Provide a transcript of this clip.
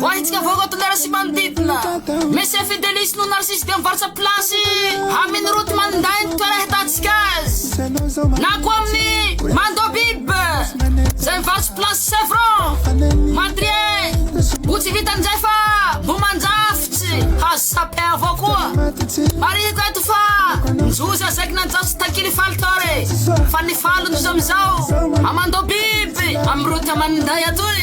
Ho ahintsika vahoaka Tokana sy manodidina Messi et Fidelis no narcisse dia mivarotra place Amin route maninday ny toerana ahitantsika azy Na koa amin'ny Mando Bib Zay mivarotra place Chevron Madrier Ho tsy vitan'izay fa mbo mandrafitsy Fa sapin avao koa Marihiko eto fa Njoza zaiky nanjafy tsy takily faly tao re Fa ny faly njoza amizao A Mando Bib Amin'ny route maninday atoy